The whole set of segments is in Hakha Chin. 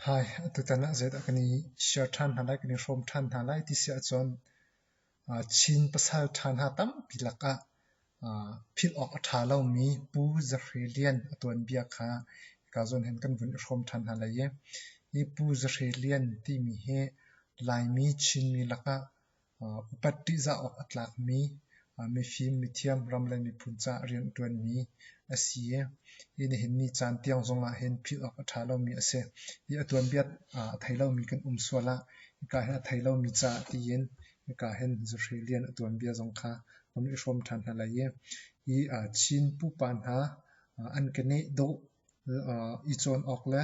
Hi, atutan ah zeidah kan i share ṭhan hna lai, kan i hrawm ṭhan hna lai ti si ahcun Chin pasal ṭha hna tampi lakah philh awk a ṭha lomi Pu Zahre Lian a tuanbia kha hika zawn hin kan vun i hrawm ṭhan hna lai i, hi Pu Zahre Lian timi hi Laimi Chinmi lakah upat ṭihzah awk a tlakmi mifim, mithiam, ram le miphun caah rian a ṭuanmi a si i hi nihin ni caan tiang zong ah hin philh awk a ṭha lomi a si. Hi a tuanbia a thei lomi kan um sual ah hika hin a thei lomi caah tiin hika hin zuhri lian a tuanbia zong kha kan i hrawm ṭhan hna lai i hi Chin pupa hna an keneh dawh i cawn awk le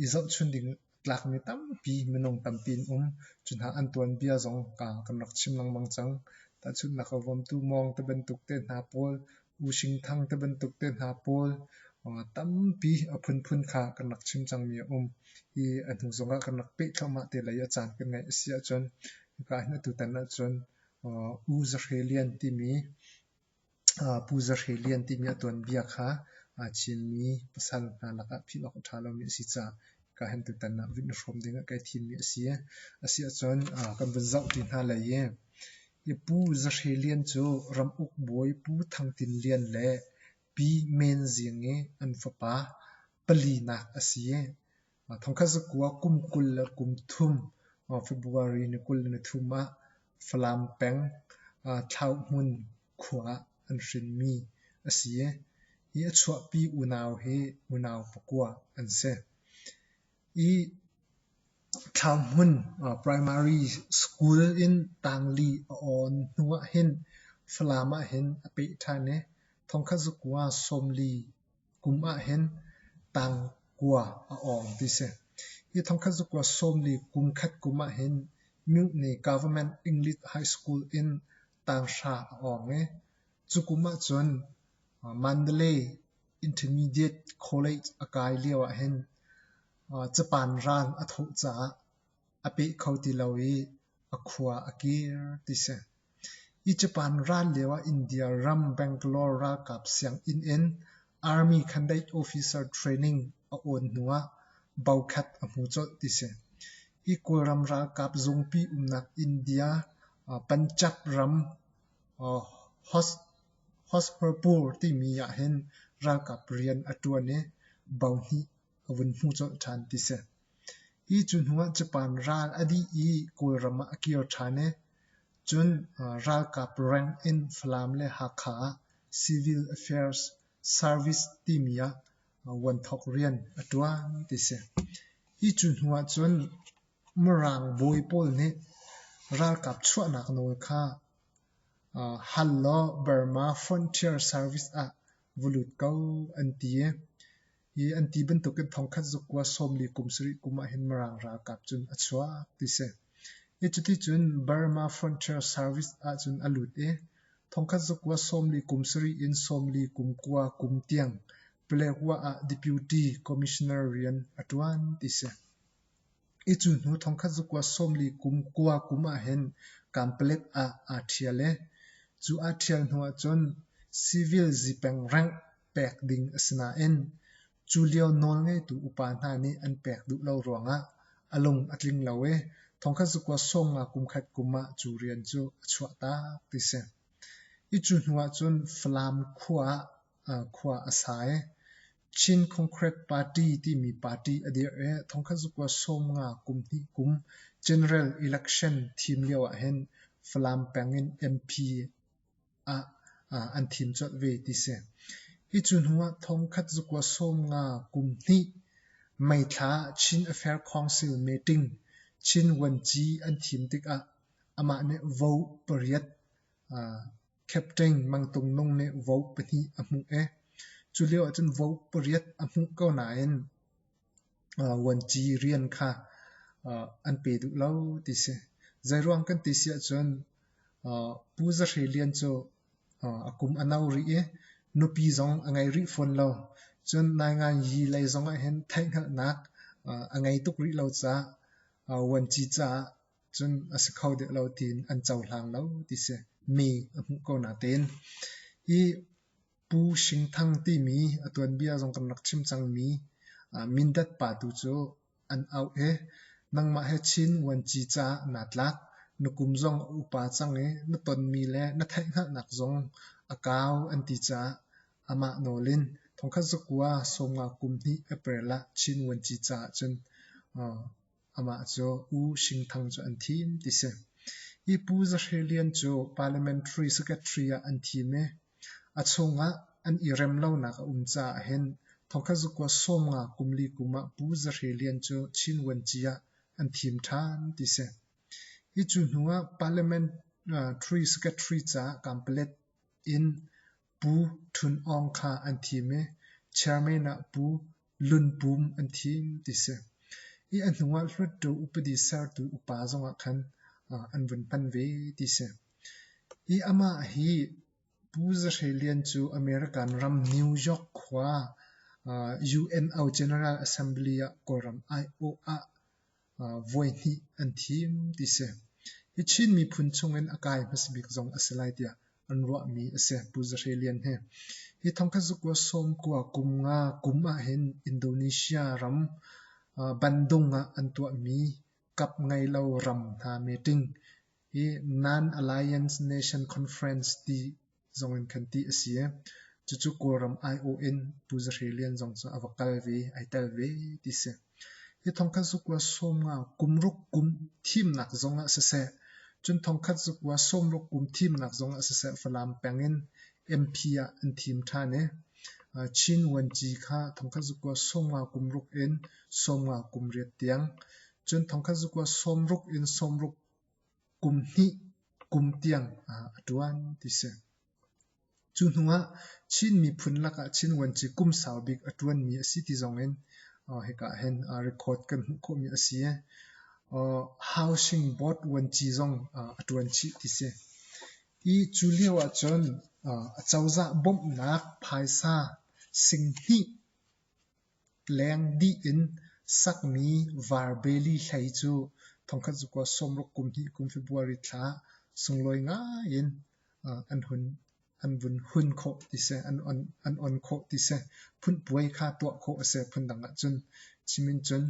i zohchunh ding tlakmi tampi minung tampi an um. Cu hna an tuanbia zong kan rak chim lengmang cang. Tahchunhnak ah Vawmtu Mawng te bantuk te hna pawl, U Shing Thang te bantuk te hna pawl tampi a phunphun kha kan rak chim cangmi a um. Hi a hnu zong ah kan rak peh thluahmah te lei a caan kan ngeih a si ahcun hika hin atu tan ahcun U Za Hre Lian timi Pu Za Hre Lian ti nih a tuanbia kha aa chinmi pasal hna lakah philh awk a ṭha lomi a si caah kaa hen tutan ah vun i hrawm dingah kai thimmi a si. A si ahcun kan vun zoh ṭi hna lai i hi Pu Za Hre Lian cu Ram Uk Bawi Pu Thang Tin Lian le Pi Men Zing i an fapa palinak a si. Thongkhat zakua kum kul le kum thum February ni kul le ni thum ah Falam peng Thlauhmun khua ah an hrinmi a si i hi a chuahpi unau hi unau pakua an si. Hi Thlauhmun Primary School in tangli a awn hnu ah hin Falam ah hin a peh ṭhan i thongkhat zakua sawmli Kum ah hin tangkua a awng ti si. Hi thongkhat zakua sawmli kum khat kum ah hin Mutiny Government English High School in tanghra a awng i cu kum ahcun Mandalay Intermediate College a kai lio ah hin Japan ran a thawh caah a peh kho ti lo i a khua a kir ti si. Hi Japan ran lioah India ram Bangalore ralkap sianginn in Army candidate officer training a awn hnuah bokhat a hmu colh ti si. Hi Kawlram ralkap zungpi umnak India Panjab ram Hosmarpur timi ah hin ralkap rian a ṭuan i bohnih a vun hmu colh ṭhan ti si. Hi cu hnuah Japan ral a dih i Kawlram ah a kir ṭhan i cun ralkap rank in Falam le Hakha ah Civil Affairs Service timi ah vuanthok rian a ṭuan ti a si. Hi cu hnuah cun Mirang bawi pawl nih ralkap chuahnak nawl kha hal law Burma Frontier Service ah va lut ko an ti i Hi an ti bantukin thongkhat zuk kua sawmli kum sarih kum ahhin Mirang ralkap cun a chuak ti si. Hi cuticun Burma Frontier Service ahcun a lut i thongkhat zuk kua sawmli kum sarih in sawmli kum kua kum tiang Paletwa ah Deputy Commissioner rian a ṭuan ti si. Hi cu hnu thongkhat zuk kua sawmli kum kua kum ahhin Kampalek ah aa ṭhial i cu aa ṭhial hnu ahcun civil zipeng rank pek ding a si nain cu lio nawlngeitu upa hna nih an pek duh lo ruangah a lung a tling lo i thongkhat zakua sawm nga kumkhat kum ah cu rian cu a chuah tak ti si. Hi cu hnu ahcun Falam khua ah khua a sa i Chin Concrete Party timi party a dirh i thongkhat zakua sawm nga kum hnih kum general election thim lio ahhin Falam peng in MP ah an thin cuanh ve ti si. Hi cu hnu ah thongkhat zakua sawm nga kum hnih meithla Chin Affair Council meeting Chin Vuanci an thim tikah amah nih vote pariat captain Mang Tung Nung nih vote pahnih a hmuh i cu lio ahcun vote pariat a hmuh ko nain vuanci rian kha an pe duh lo ti si. Zeiruang kan ti si ahcun Pu Za Hre Lian cu a kum a no rih i nupi zong a ngei rih fawn lo. Cun Naingan Yi lei zong ahhin theihhngalhnak a ngei tuk rih lo caah vuanci caah cun a si kho deuh lo tiin an cohlang lo ti si. Mi a hmuh ko natein. Hi Pu Shing Thang timi a tuanbia zong kan rak chim cangmi Mindat pa tu cu an auh i nangmah he Chin vuanci caah naa tlak. Na kum zong a upa cang i na tonmi le na theihhngalhnak zong a kau an ti caah amah nawl in thongkhat zakua sawmnga kum hnih April ah Chin vuanci caah cun Amah cu U Shing Thang cu an thim ti si. Hi Pu Za Hre Lian cu Parliamentary Secretary ah an thim i a chungah an i rem lonak a um caah hin thongkhat zakua sawmnga kum li kum ah Pu Za Hre Lian cu Chin Vuanci ah an thim ṭhan ti si. Hi cu hnu ah Parliamentary Secretary caah kampalet in Pu Htun Aung kha an thim i chairman ah Pu Hlunpum an thim ti si. I a hnu ah Hluttaw upadi sertu upa zong ah khan an vun hman ve ti si. Hi amah hi Pu Za Hre Lian cu American ram New York khua UN General Assembly ah Kawlram aiawh ah voihnih an thim ti si. Hi Chin miphun chungin a kai hmasa bik zong a si lai tiah an ruahmi a si, Pu Za Hre Lian he. Hi thongkhat zukua sawmkua kum nga kum ahhin Indonesia ram bandung ah an tuahmi kap ngeilo ram hna meeting hi Non-Alliance Nation Conference ti zong in kan tih a si. Cucu Kawlram aiawh in Pu Za Hre Lian zong cu a va kal ve, ai tel ve ti si. Hi thongkhat zukua sawmnga kumruk kum thimnak zong ah siseh, cun thongkhat zukua sawmruk kum thimnak zong ah siseh Falam peng in MP ah an thim ṭhan i Chin Vuanci kha thongkhat zukua sawmnga kumruk in sawmnga kum riat tiang, cun thongkhat zukua sawmruk in sawmruk kum hnih kum tiang ah a ṭuan ti si. Cu hnuah Chin miphun lakah Chin vuanci kum sau bik a ṭuanmi a si ti zongin hika ah hin record kan hmuh khawhmi a si i Housing Board vuanci zong a ṭuan chih ti si. Hi cu lio ahcun acozah bawmhnak phaisa singhnih Leng dih in sakmi varbeli hlei cu thongkhat zukua sawmruk kum hnih kum February thla sunglawi ngai in an vun hun khawh ti seh, an on khawh ti seh, phun puai kha tuah khawh a si phundang ahcun chim in cun.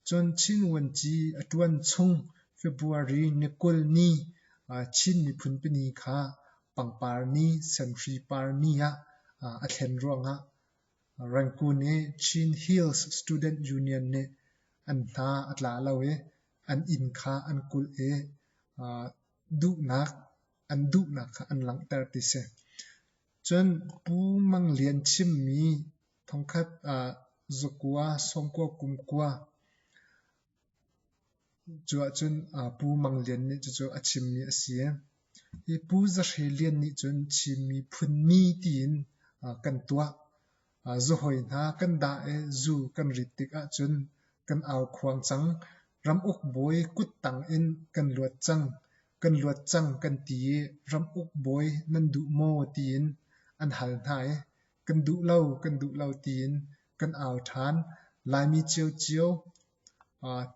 Cun Chin Vuanci a ṭuan chung February ni kul ni Chin miphun pini kha pangpar ni, semhri par ni ah a thlen ruangah Rangku nih Chin Hills Student Union nih an hna a tla lo i an inn kha an kulh i an duhnak kha an langhter ti si. Cun Pu Mang Lian chimmi thongkhat Zakua, Sawngkua, Kumkua, Cu ahcun Pu Mang Lian nih cucu a chimmi a si. Hi Pu Za Hre Lian nih cun Chinmi phunmi tiin kan tuah. Zuhawi hna kan dah i zu kan rit tik ahcun kan au khuang cang. Ramuk bawi kut tang in kan luat cang. Kan luat cang kan ti i ramuk bawi nan duh maw tiin an hal hna i Kan duh lo, kan duh lo tiin kan au ṭhan. Laimi ciocio,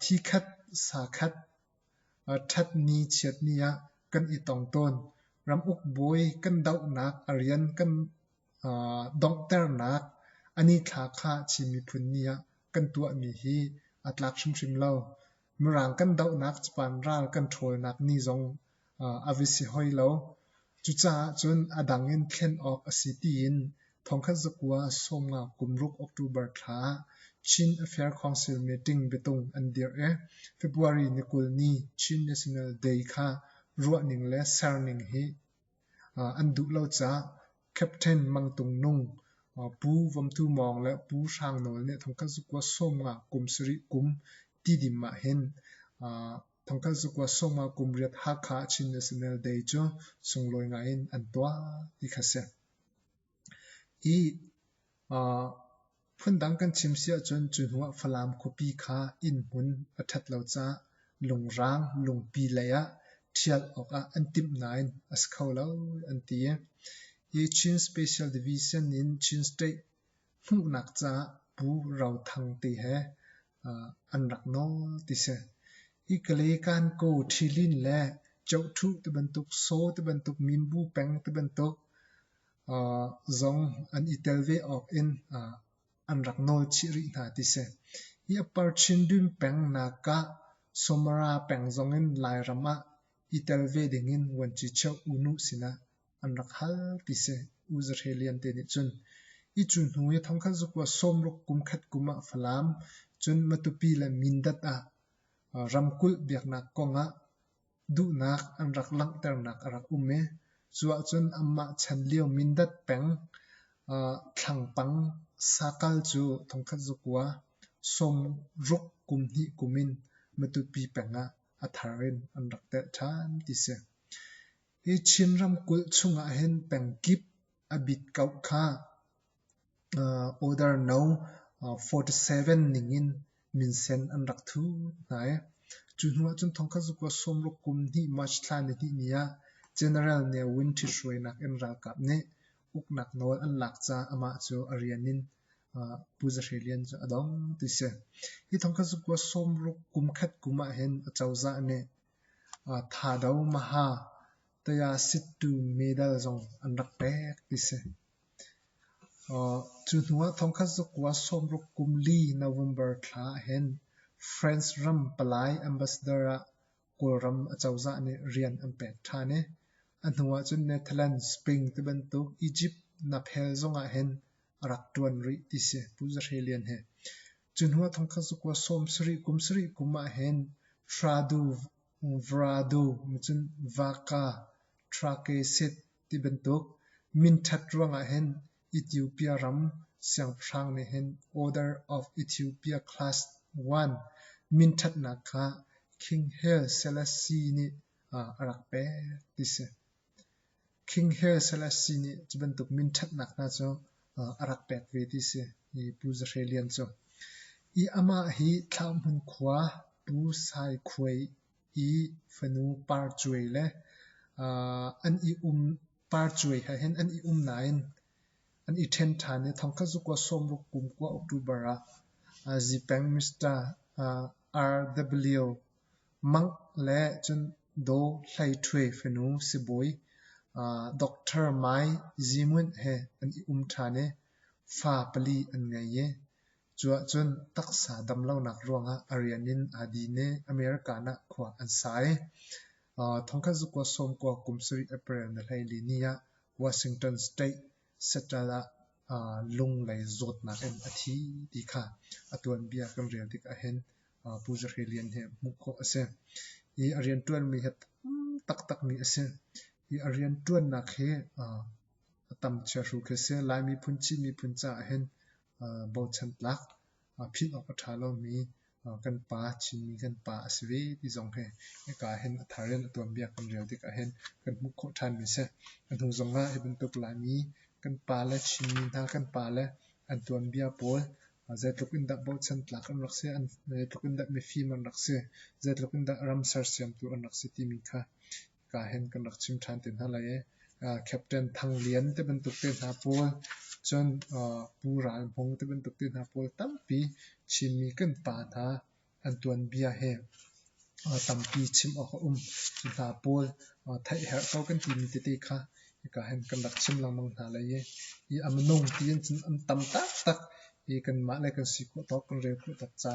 thi khat, sa khat, ṭhatni chiatni ah kan i tong tawn. Ram ukbawi kan dohnak a rian kan donghternak a nithla kha Chin miphun ni ah kan tuahmi hi a tlak hrimhrim lo. Mirang kan dohnak capaan ral kan ṭhawlnak ni zong a va si hoi lo. Cucaah cun a dang in thlen awk a si tiin thongkhat zakua sawmnga kumruk October thla ah Chin Affair Council meeting biatung an dirh i February ni kul ni Chin National Day kha ruahning le serning hi an duh lo caah Captain Mang Tung Nung, Pu Vom Thu Mawng le Pu Hrang Nawl nih thongkhat zakua sawmnga kum sarih kum tidim ah hin thongkhat zakua sawmnga kum riat Hakha Chin National Day cu sunglawi ngai in an tuah ti kha si. Phundang kan chim si ahcun cu hnu ah Falam khuapi kha innhmun a ṭhat lo caah lungrang lungpi lei ah ṭhial awkah an timh nain a si kho lo an ti i hi Chin Special Division in Chin State hmuhnak caah Pu Ro Thang te he an rak nawl ti si. Hi Kalay Kankaw ṭhilin le Chohthu tibantuk Saw tibantuk Minbu peng tibantuk zong an i tel ve awk in an rak nawl chih rih hna ti si. Hi a par Chindwin pengnak ah Somara peng zong in Lairam ah i tel ve ding in vuanci cheu unu sinah an rak hal ti si. U Za Hre Lian te nih cun hi cu hnu i thongkhat zukua sawmruk kum khat kum ah Falam cun Matupi le Mindat ah ramkulh biaknak kong ah Duhnak an rak langhternak a rak um i cu ahcun anmah chan lio Mindat peng Thlangpang sakal cu thongkhat zakua sawmruk kum hnih kum in Matupi peng ah a thar in an rak telh ṭhan ti si. Hi Chin ramkulh chungah hin pengkip a bitkauh kha Oder no forty seven ningin minsen an rak thu hna i cu hnuah cun thongkhat kua sawmruk kum hnih March thla nihnih ni ah General Ne Win ṭhit hruainak in ralkap nih uknak nawl an lak caah amah cu a rian in Pu Za Hre Lian cu a dong ti a si. Hi thongkhat kua sawmruk kum khat kum ahhin acozah nih Thado Maha Tayasittu medal zong an rak pek ti a si. Cu hnuah thongkhat zakua sawmruk kum li November thla ahhin France ram palai ambassador ah Kawlram acozah nih rian an pek ṭhan i a hnuah cun Netherlands, Spain tibantuk Egypt naphel zongah hin a rak ṭuan rih ti si. Pu Za Hre Lian hi. Cu hnuah thongkhat zakua sawm sarih kum sarih kum ahhin Fradu, Vradu, cun Vaka, Ṭhake, Sit, Ti bantuk minṭhat ruangah hin Ethiopia ram siangpahrang nih hin Order of Ethiopia Class I minṭhatnak kha King Haile Selassie nih a rak pek ti si. King Haile Selassie nih cu bantuk minṭhatnak hna cu a rak pek ve ti si i Pu Za Hre Lian cu. Hi amah hi Thlauhmun khua Pu Sai Khuai i fanu parcuai le uh, an i um parcuai ha hin an i um nain an i ṭhen ṭhan i thongkhat zuk wa sawmruk kum kua October ah uh, Zipeng Mr. Uh, RW Mang le cun Do Hlai Ṭhue fanu sibawi uh, Dr. Mai Zimun he an i um ṭhan i fa pali an ngei i Cuahcun taksa damlonak ruangah a rian in aa din i America ah khua an sa i thongkhat zukua sawmkua kum sarih April na hleili ni ah Washington State Seattle ah lunglei zawtnak in a thi ti kha a tuanbia kan rel tik ahhin Pu Za Hre Lian he hmuh khawh a si. Hi a rianṭuanmi hi tam taktakmi a si. Hi a rianṭuannak hi a tam chiahru khi a si. Lai miphun, Chin miphun caah hin bochan tlak philh awk a ṭha lomi kan pa, Chinmi kan pa a si ve ti zong hi hika ahhin a thar in a tuanbia kan rel tik ahhin kan hmuh khawh ṭhanmi a si. A hnu zongah hi bantuk Laimi kan pa le Chinmi hna kan pa le an tuanbia pawl zeitluk in dah bochan tlak an rak si, zeitluk in dah mifim an rak si, zeitluk in dah ram sersiamtu an rak si timi kha ka hen kan rak chim ṭhan te hna lai i Captain Thang Lian te bantuk te hna pawl cun Pu Ral Hmung te bantuk te hna pawl tampi Chinmi kan pa hna an tuanbia hi tampi chim awk a um. Cu hna pawl theih herh ko kan timi tete kha hika hen kan rak chim lengmang hna lai i i a minung tiin cun an tam taktak i kanmah le kan si khawh tawk kan rel khawh tawk ca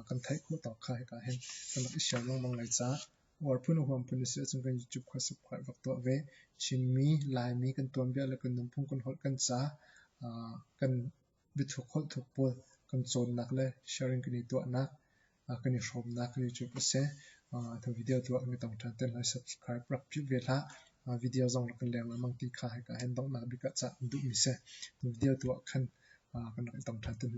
kan theih khawh tawk kha hika hen kan rak i sial lengmang lai caah War phun a huam phun a si ahcun kan YouTube kha subscribe rak tuah ve. Chinmi, Laimi kan tuanbia le kan nunphung kan holh kan ca uh, kan biathuk holhthuk pawl kan cawnnak le sharing kan i tuahnak uh, kan i hrawmnak kan YouTube a si. Uh, thang video tu ah kan i tong ṭhan te lai subscribe rak philh ve hlah. Uh, video zong rak kan leng lengmang ti kha hai ka hen donghnak bik ah cah kan duhmi si. Thang video tu ah khan uh, kan rak i tong ṭhan te hna.